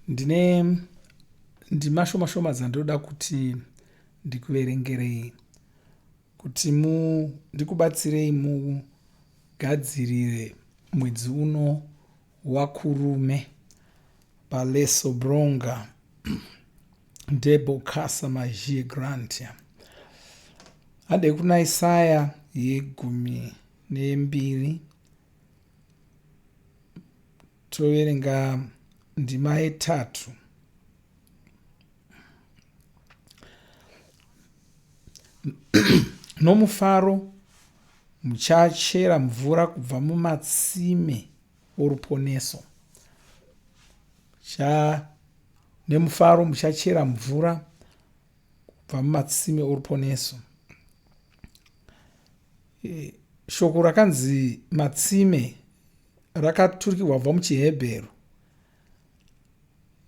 Ndine ndima shoma shoma dzandoda kuti ndikuverengerei kuti mu ndikubatsirei mugadzirire mwedzi uno wakurume paleso bronga debo kasa magie grantia handei kuna isaya yegumi nembiri Toverenga ndima yetatu. Nomufaro muchachera mvura kubva mumatsime oruponeso. Cha nemufaro muchachera mvura kubva mumatsime oruponeso. E, shoko rakanzi matsime rakaturikirwa kubva muchihebheru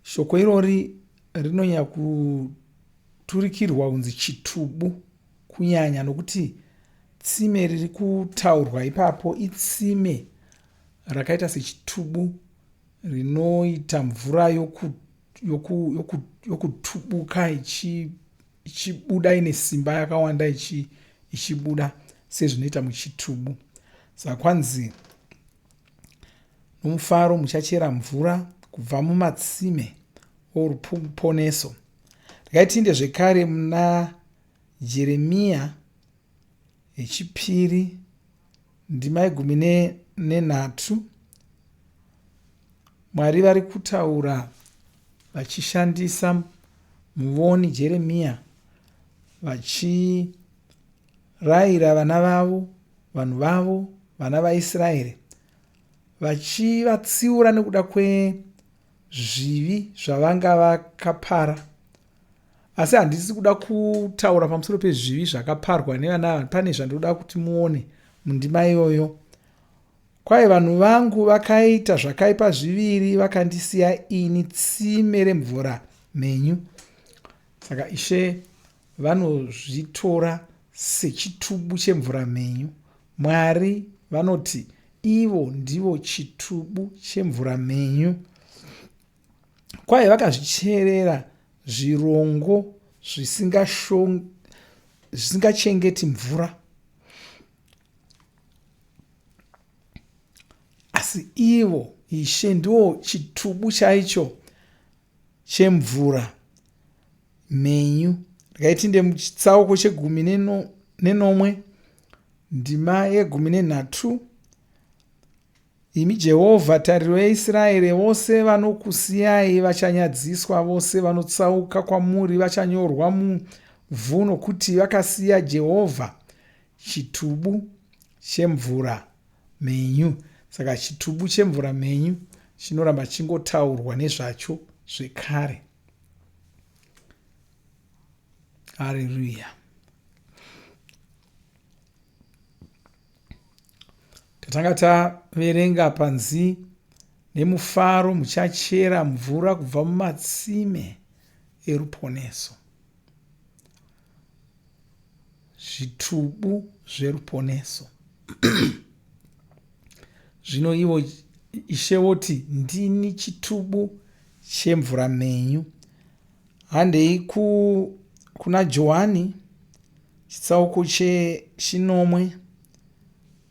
shoko irori rinonyanya kuturikirwa kunzi chitubu kunyanya nokuti tsime riri kutaurwa ipapo itsime rakaita sechitubu rinoita mvura yokutubuka ichi ichibuda ine simba yakawanda ichi ichibuda sezvinoita muchitubu saka kwanzi nomufaro muchachera mvura kubva mumatsime oruponeso rikaitinde zvekare muna jeremiya Yechipiri ndima yegumi nenhatu. Mwari vari kutaura vachishandisa muvoni Jeremiya vachirayira vana vavo, vanhu vavo, vana vaIsraeri, vachivatsiura nekuda kwezvivi zvavanga vakapara. asi handisi kuda kutaura pamusoro pezvivi zvakaparwa nevana ava pane zvandinoda kuti muone mundima iyoyo kwaye vanhu vangu vakaita zvakaipa zviviri vakandisiya ini tsime remvura mhenyu saka ishe vanozvitora sechitubu chemvura mhenyu mwari vanoti ivo ndivo chitubu chemvura mhenyu kwaye vakazvicherera zvirongo zvisingachengeti mvura asi ivo ishe ndiwo chitubu chaicho chemvura mhenyu ndikaitinde muchitsauko chegumi nenomwe ndima yegumi nenhatu Imi Jehovha, tariro yaIsraeri, vose vanokusiyai vachanyadziswa, vose vanotsauka kwamuri vachanyorwa muvhu, nokuti vakasiya Jehovha, chitubu chemvura mhenyu. Saka chitubu chemvura mhenyu chinoramba chingotaurwa nezvacho zvekare. Hallelujah. tatanga taverenga panzi nemufaro muchachera mvura kubva mumatsime eruponeso zvitubu zveruponeso zvino ivo ishe voti ndini chitubu chemvura mhenyu handei kuna johani Chitsauko chechinomwe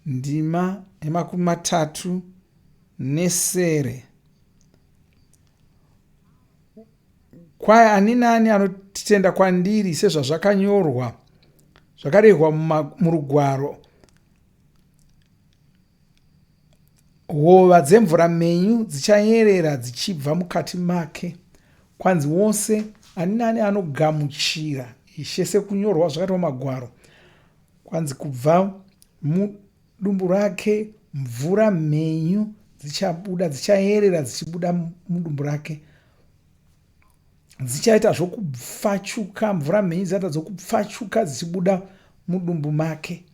ndima yemakumi matatu nesere kwaye ani naani anotitenda kwandiri sezvazvakanyorwa zvakarehwa murugwaro Hova dzemvura mhenyu dzichayerera dzichibva mukati make, kwanzi wose ani nani anogamuchira Ishe sekunyorwa zvakaitwa magwaro, kwanzi kubva mudumbu rake mvura mhenyu dzichabuda dzichayerera dzichibuda mudumbu rake dzichaita zvokupfachuka mvura mhenyu dzichaita dzokupfachuka dzichibuda mudumbu make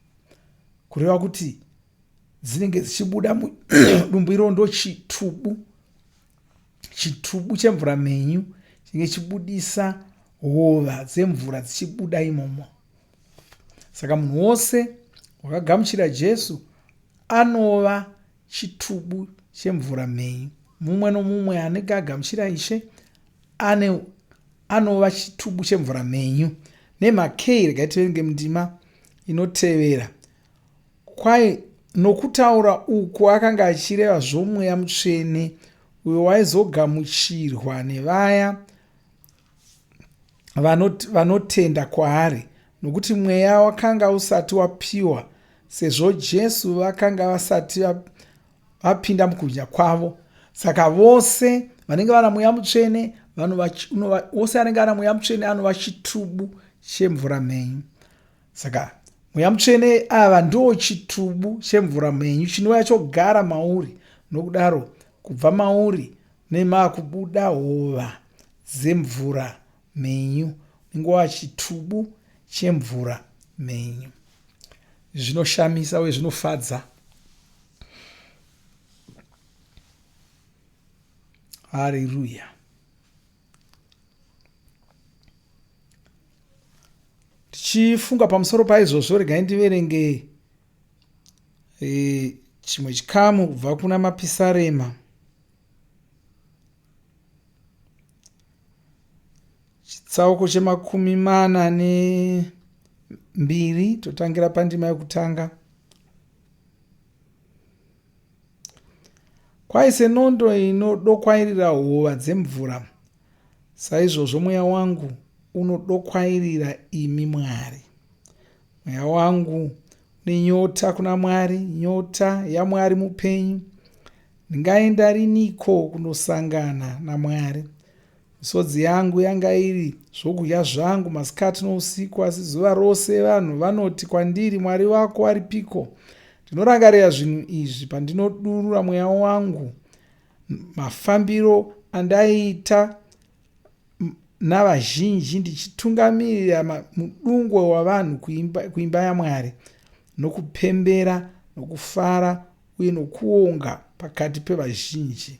kureva kuti dzinenge dzichibuda mudumbu iro ndochitubu chitubu chemvura mhenyu chinenge chibudisa hova dzemvura dzichibuda imomo saka munhu wose wakagamuchira jesu anova chitubu chemvura mhenyu mumwe nomumwe anenge agamuchira ishe ane anova chitubu chemvura mhenyu nemhakei regai tivenge mundima inotevera Kwaye nokutaura uku akanga achireva zvomweya mutsvene uyo waizogamuchirwa nevaya vanotenda kwaari nokuti mweya wakanga usati wapiwa sezvo jesu vakanga vasati vapinda mukubwinya kwavo saka vose vanenge vana mweya mutsvene vose anenge ana mweya mutsvene anova chitubu chemvura mhenyu Saka mweya mutsvene ava ndoo chitubu chemvura mhenyu chinouya chogara mauri nokudaro kubva mauri nemakubuda hova dzemvura mhenyu ningova chitubu chemvura mhenyu zvinoshamisa uye zvinofadza hariruya tichifunga pamusoro paizvozvo regai ndiverenge e, chimwe chikamu kubva kuna mapisarema chitsauko chemakumi mana nembiri totangira pandima yekutanga Kwai senondo inodokwairira hova dzemvura, saizvozvo mweya wangu unodokwairira imi Mwari. Mweya wangu nenyota kuna Mwari, nyota yaMwari mupenyu. Ndingaenda riniko kunosangana naMwari? Misodzi yangu yanga iri zvokudya zvangu masikati nousiku, asi zuva rose vanhu vanoti kwandiri, Mwari vako aripiko? Ndinorangarira zvinhu izvi pandinodurura mweya wangu mafambiro andaiita navazhinji ndichitungamirira mudungwe wavanhu kuimba, kuimba yamwari nokupembera nokufara uye nokuonga pakati pevazhinji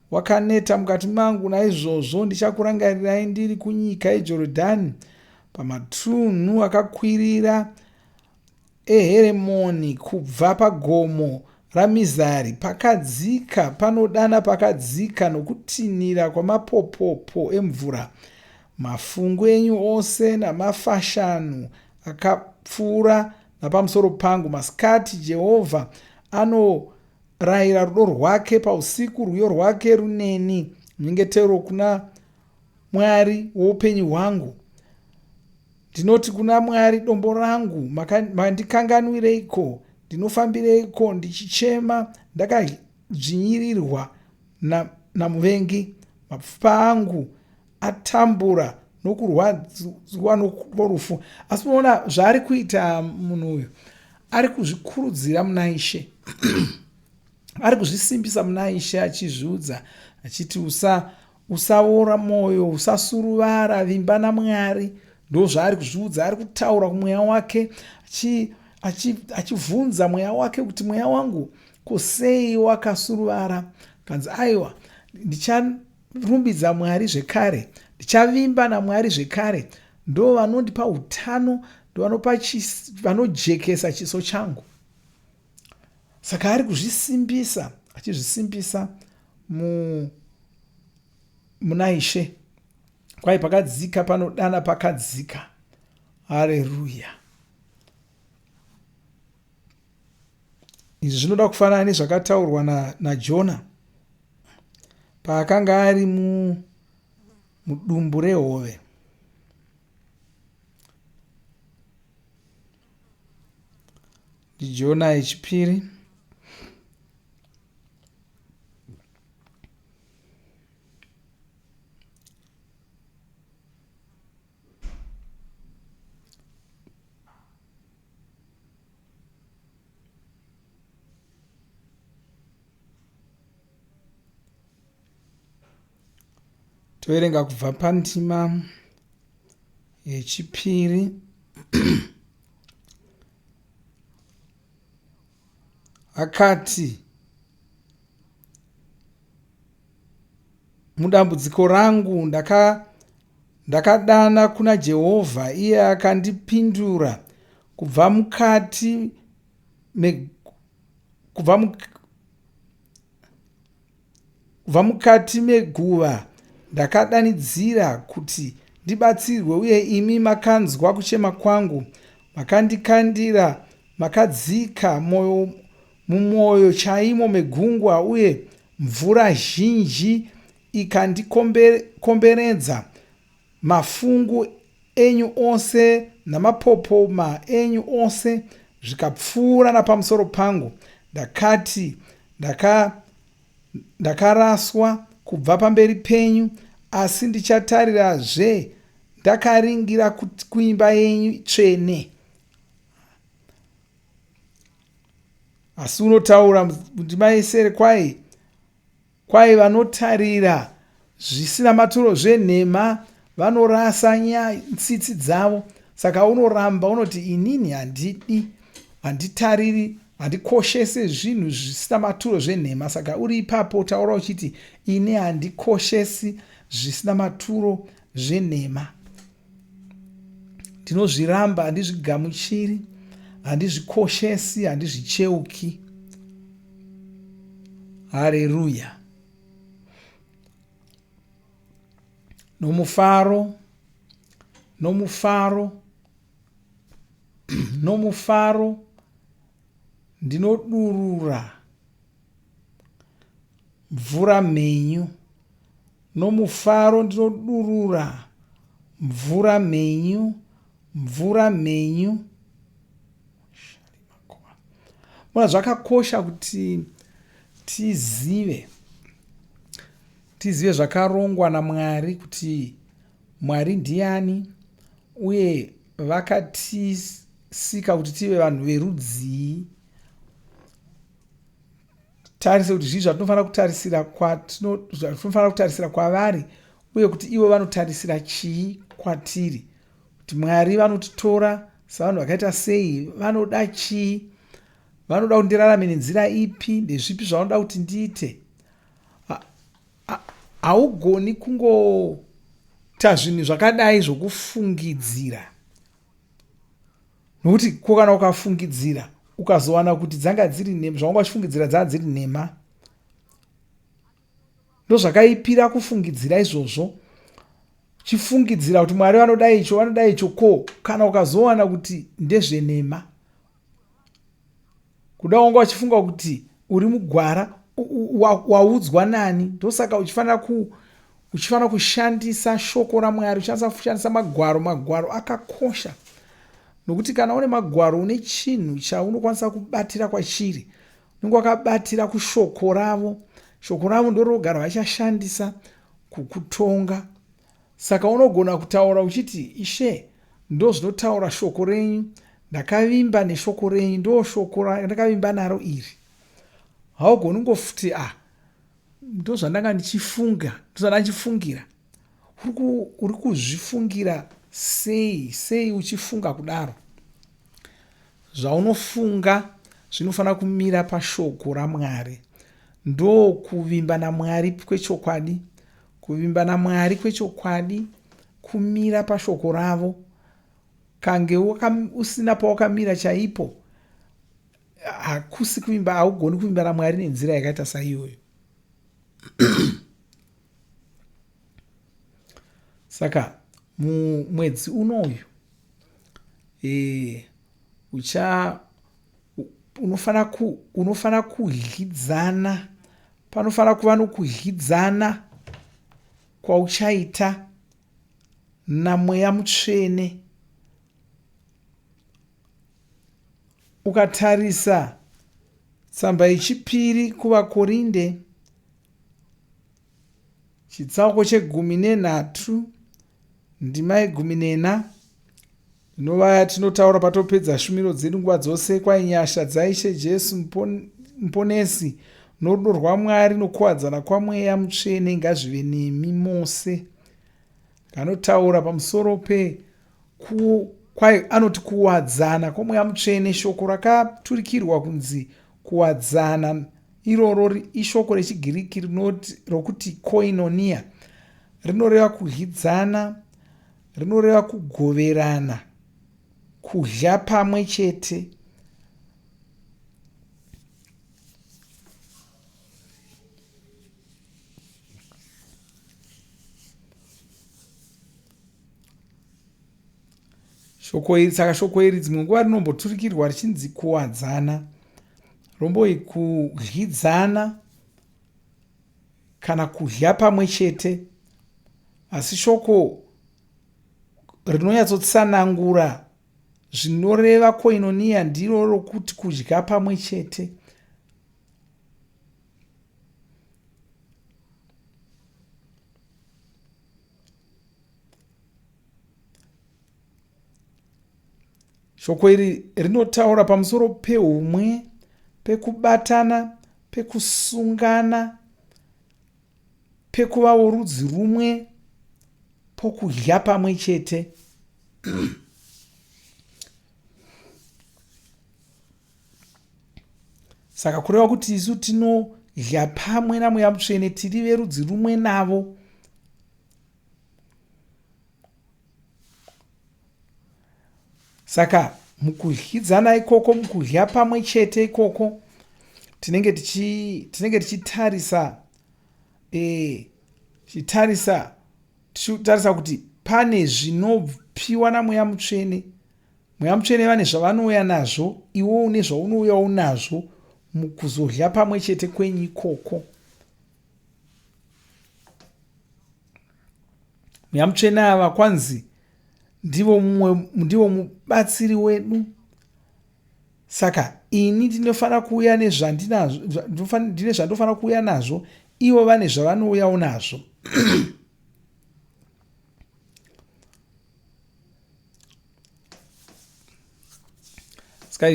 Wakaneta mukati mangu, naizvozvo ndichakurangarirai ndiri kunyika yeJorodhani, pamatunhu akakwirira eHeremoni, kubva pagomo raMizari, pakadzika panodana pakadzika, nokutinhira kwamapopopo emvura. Mafungu enyu ose namafashanu akapfuura napamusoro pangu. Masikati Jehovha ano Rayira rudo rwake pausiku, rwiyo rwake runeni, nyengetero kuna Mwari woupenyu hwangu. Ndinoti kuna Mwari dombo rangu, mandikanganwireiko? Ndinofambireiko ndichichema ndakadzvinyirirwa namuvengi? Mapfupa angu atambura nokurwadziwa norufu asi unoona zvaari kuita munhu uyu ari kuzvikurudzira muna ishe ari kuzvisimbisa muna ishe achizviudza achiti usa usaora mwoyo usasuruvara vimba namwari ndo zvaari kuzviudza ari kutaura kumweya wake achibvunza mweya wake kuti mweya wangu kusei wakasuruvara kanzi aiwa Rumbidza Mwari zvekare. Ndichavimba naMwari zvekare. Ndo vanondipa utano, ndovanopa chis, vanojekesa chiso changu. Saka ari kuzvisimbisa, achizvisimbisa mu muna Ishe. Kwai pakadzika panodana pakadzika. Haleluya. Izvi zvinoda kufanana nezvakataurwa na, naJona paakanga ari mu, mudumbu rehove. ndiJona yechipiri toverenga kubva pandima yechipiri akati, Mudambudziko rangu ndaka, ndakadana kuna Jehovha, iye akandipindura kubva mukati me, kubva muk, Kubva mukati meguva ndakadanidzira kuti ndibatsirwe uye imi makanzwa kuchema kwangu makandikandira makadzika mwoyo mumwoyo chaimo megungwa uye mvura zhinji ikandikomberedza Mafungu enyu ose namapopoma enyu ose zvikapfuura napamusoro pangu, ndakati, Ndaka, ndakaraswa kubva pamberi penyu, asi ndichatarirazve ndakaringira kuimba yenyu tsvene. Asi unotaura ndima yesere kwaye Kwahi vanotarira zvisina maturo zvenhema vanorasa nya tsitsi dzavo saka unoramba unoti inini handidi handitariri handikoshese zvinhu zvisina maturo zvenhema saka uri ipapo taura uchiti ini handikoshesi zvisina maturo zvenhema. Ndinozviramba, handizvigamuchiri, handizvikoshesi, handizvicheuki. Hareruya! Nomufaro, nomufaro, nomufaro ndinodurura mvura mhenyu, nomufaro ndinodurura mvura mhenyu, mvura mhenyu. Mona zvakakosha kuti tizive tizive zvakarongwa naMwari kuti Mwari ndiani uye vakatisika kuti tive vanhu verudzii tarise kuti zvii zvatinofanira kutarisira kwatinofanira kutarisira kwavari uye kuti ivo vanotarisira chii kwatiri kuti mwari vanotitora savanhu vakaita sei vanoda chii vanoda kuti ndirarame nenzira ipi ndezvipi zvavanoda kuti ndiite haugoni kungota zvinhu zvakadai zvokufungidzira nokuti ko kana ukafungidzira ukazowana kuti dzanga dziri nhema zvawanga uchifungidzira dzanga dziri nhema ndozvakaipira kufungidzira izvozvo chifungidzira kuti mwari vanoda icho vanoda icho ko kana ukazowana kuti ndezvenhema kuda wanga uchifunga kuti uri mugwara waudzwa nani ndosaka uchifanira ku uchifanira kushandisa shoko ramwari uchishandisa kushandisa magwaro magwaro akakosha nokuti kana une magwaro une chinhu chaunokwanisa kubatira kwachiri unenge wakabatira kushoko ravo shoko ravo ndorogara vachashandisa kukutonga Saka unogona kutaura uchiti, Ishe, ndozvinotaura shoko renyu, ndakavimba neshoko renyu, ndoshoko randakavimba naro iri. Haugoni kungofuti, ah, ndozvandanga ndichifunga, ndozvandanga ndichifungira. Uri kuzvifungira sei, sei uchifunga kudaro? Zvaunofunga zvinofanira kumira pashoko raMwari. Ndokuvimba naMwari kwechokwadi Kuvimba naMwari kwechokwadi, kumira paShoko ravo, kange usina pawakamira chaipo, hakusi kuvimba, haugoni kuvimba naMwari nenzira yakaita saiyoyo. Saka mumwedzi unoyu e, ucha unofanira ku, unofanira kudyidzana panofanira kuva nokudyidzana kwauchaita namweya mutsvene ukatarisa tsamba yechipiri kuvakorinde chitsauko chegumi nenhatu ndima yegumi nena Inova yatinotaura patopedza shumiro dzedu nguva dzose kwai nyasha dzaishe Jesu muponesi norudo rwaMwari nokuwadzana kwamweya mutsvene ngazvive nemi mose. Kanotaura pamusoro pe ku kwai anoti kuwadzana kwamweya mutsvene shoko rakaturikirwa kunzi kuwadzana iroro ishoko rechigiriki rinoti rokuti koinonia rinoreva kudyidzana rinoreva kugoverana kudya pamwe chete shoko iri saka shoko iri dzimwe nguva rinomboturikirwa richinzi kuwadzana romboi kudyidzana kana kudya pamwe chete asi shoko rinonyatsotsanangura zvinoreva koinoniya ndiro rokuti kudya pamwe chete Shoko iri rinotaura pamusoro peumwe, pekubatana, pekusungana, pekuva worudzi rumwe, pokudya pamwe chete. saka kureva kuti isu tinodya pamwe namweya mutsvene tiri verudzi rumwe navo saka mukudyidzana ikoko mukudya pamwe chete ikoko tinenge tichi tinenge tichitarisa eh tichitarisa tichitarisa kuti pane zvinopiwa namweya mutsvene mweya mutsvene vane zvavanouya nazvo iwo une zvaunouya unazvo mukuzodya pamwe chete kwenyu ikoko mweya mutsvene ava kwanzi ndivo mumwe ndivo mubatsiri wedu saka ini ndinofanira kuuya nezvandinazvo ndine zvandofanira kuuya nazvo ivo vane zvavanouyawo nazvo ska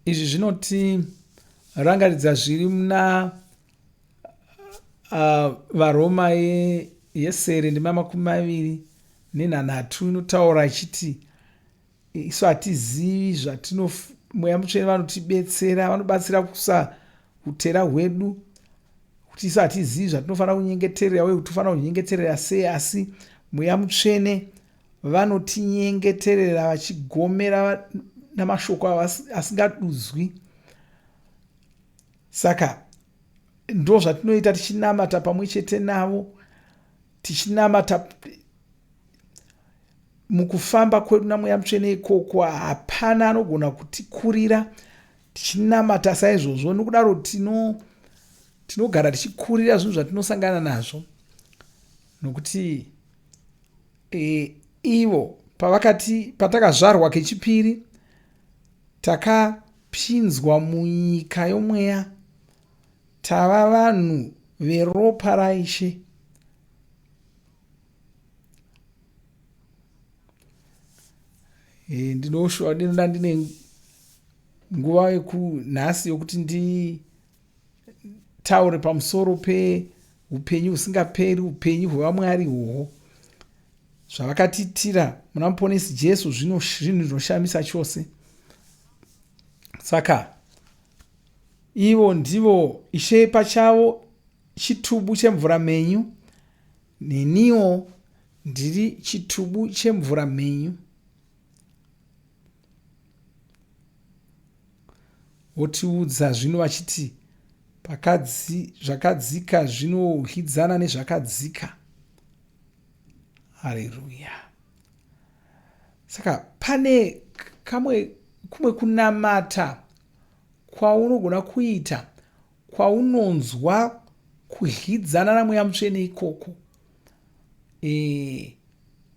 izvi zvinotirangaridza zviri muna uh, varoma yesere ye ndima makumi maviri nenhanhatu inotaura ichiti isu hatizivi zvatino mweya mutsvene vanotibetsera vanobatsira kusa utera hwedu kuti isu hatizivi zvatinofanira kunyengeterera uye kuti tofanira kunyengeterera sei asi mweya mutsvene vanotinyengeterera vachigomera namashoko asingadudzwi Saka ndozvatinoita tichinamata pamwe chete navo tichinamata mukufamba kwedu namweya mutsvene ikoko hapana anogona kutikurira tichinamata saizvozvo nokudaro tino tinogara tichikurira zvinhu zvatinosangana nazvo nokuti e, ivo pavakati patakazvarwa kechipiri taka Pinzwa munyika yomweya. Tava vanhu veropa raIshe. Eh, ndinoshua ndinoda ndine nguva yekunhasi yokuti ndi taure pamusoro peupenyu husingaperi upenyu hwevamwari ihwohwo zvavakatiitira muna muponesi jesu zvinhu zvinoshamisa chose saka ivo ndivo ishe pachavo chitubu chemvura menyu neniwo ndiri chitubu chemvura menyu Votiudza zvino vachiti pakadzi, zvakadzika zvinodyidzana nezvakadzika. Haleluya! Saka pane kamwe kumwe kunamata kwaunogona kuita kwaunonzwa kudyidzana namweya mutsvene ikoko e,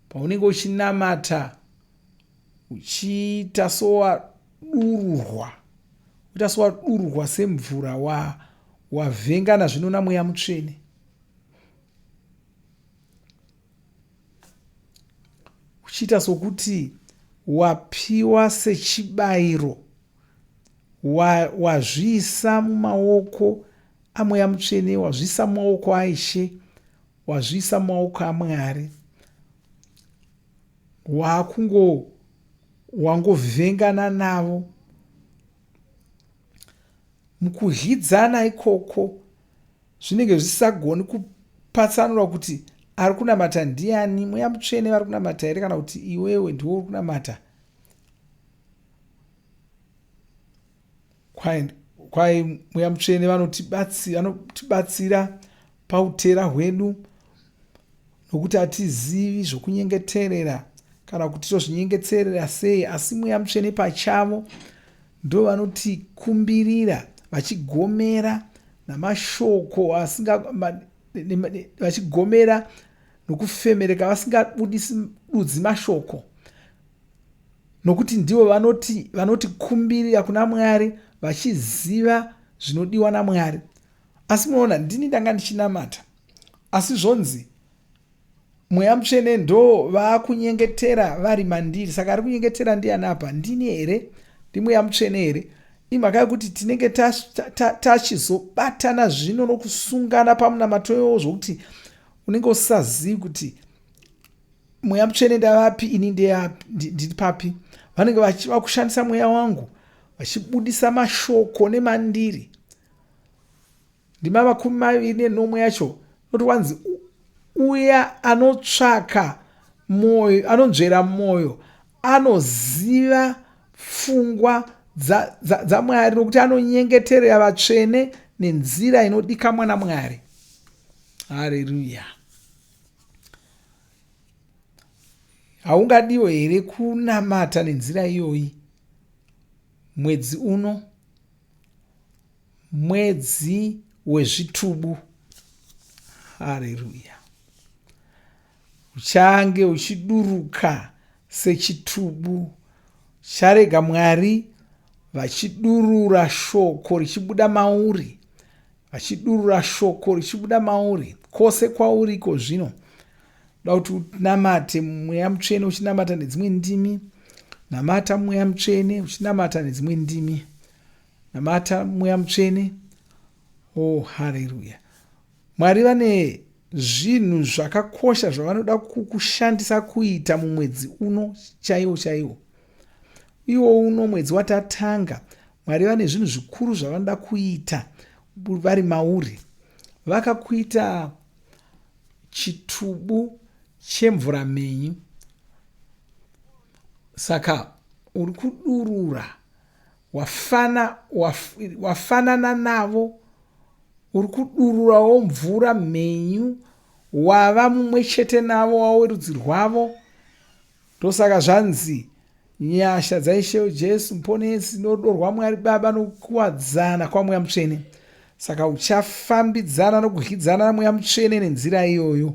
paunenge uchinamata uchiita sowadururwa uchiita sowadururwa semvura wa wavhengana zvino namweya mutsvene uchiita sokuti wapiwa sechibayiro wazviisa wa mumaoko amweya mutsvene wazviisa mumaoko aishe wazviisa mumaoko amwari wakungo wangovhengana navo mukudyidzana ikoko zvinenge zvisagoni kupatsanura kuti ari kunamata ndiani mweya mutsvene vari kunamata here kana kuti iwewe ndiwo uri kunamata Kwai, kwai mweya mutsvene vanotibatsira, vanotibatsira pautera hwedu nokuti hatizivi zvokunyengeterera kana kuti tozvinyengeterera sei asi mweya mutsvene pachavo ndo vanotikumbirira vachigomera namashoko asinga vachigomera nokufemereka vasingabudisi dudzi mashoko Nokuti ndivo vanoti, vanotikumbirira kuna Mwari vachiziva zvinodiwa naMwari. Asi munoona, ndini ndanga ndichinamata. Asi zvonzi, Mweya Mutsvene ndo vakunyengetera vari mandiri. Saka ari kunyengetera ndiani apa? Ndini here? NdiMweya Mutsvene here? imhaka yokuti tinenge tachizobatana zvino nokusungana pamunamato iwowo zvokuti unenge usazivi kuti mweya mutsvene ndavapi ini ndiri papi vanenge vachiva kushandisa mweya wangu vachibudisa mashoko nemandiri ndima makumi maviri nenomwe yacho noti wanzi uya anotsvaka moyo anonzvera moyo anoziva pfungwa dzamwari nokuti anonyengeterera vatsvene nenzira inodika mwana mwari hareruya haungadiwo here kunamata nenzira iyoyi mwedzi uno mwedzi wezvitubu hareruya uchange uchiduruka sechitubu charega Mwari vachidurura shoko richibuda mauri, vachidurura shoko richibuda mauri, kwose kwauri iko zvino da kuti unamate mweya mutsvene uchinamata nedzimwe ndimi namata mweya mutsvene uchinamata nedzimwe ndimi namata mweya mutsvene oh haleluya Mwari vane zvinhu zvakakosha zvavanoda kukushandisa kuita mumwedzi uno chaiwo chaiwo iwo uno mwedzi watatanga mwari vane zvinhu zvikuru zvavanoda kuita vari mauri vakakuita chitubu chemvura mhenyu saka uri kudurura Wafana, waf, wafanana navo uri kudururawo mvura mhenyu wava mumwe chete navo wava werudzi rwavo ndosaka zvanzi nyasha dzaishe jesu muponesi norudo rwamwari baba nokukuwadzana kwamweya mutsvene saka uchafambidzana nokudyidzana namweya mutsvene nenzira iyoyo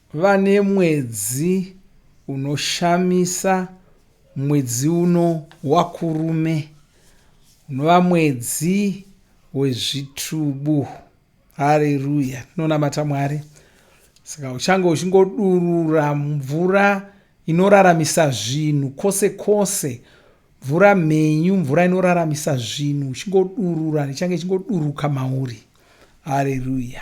Vane mwedzi unoshamisa mwedzi uno waKurume unova mwedzi wezvitubu. Hareruya, tinonamata Mwari. Saka uchange uchingodurura mvura inoraramisa zvinhu kwose kwose, mvura mhenyu, mvura inoraramisa zvinhu, uchingodurura, ichange ichingoduruka mauri. Hareruya.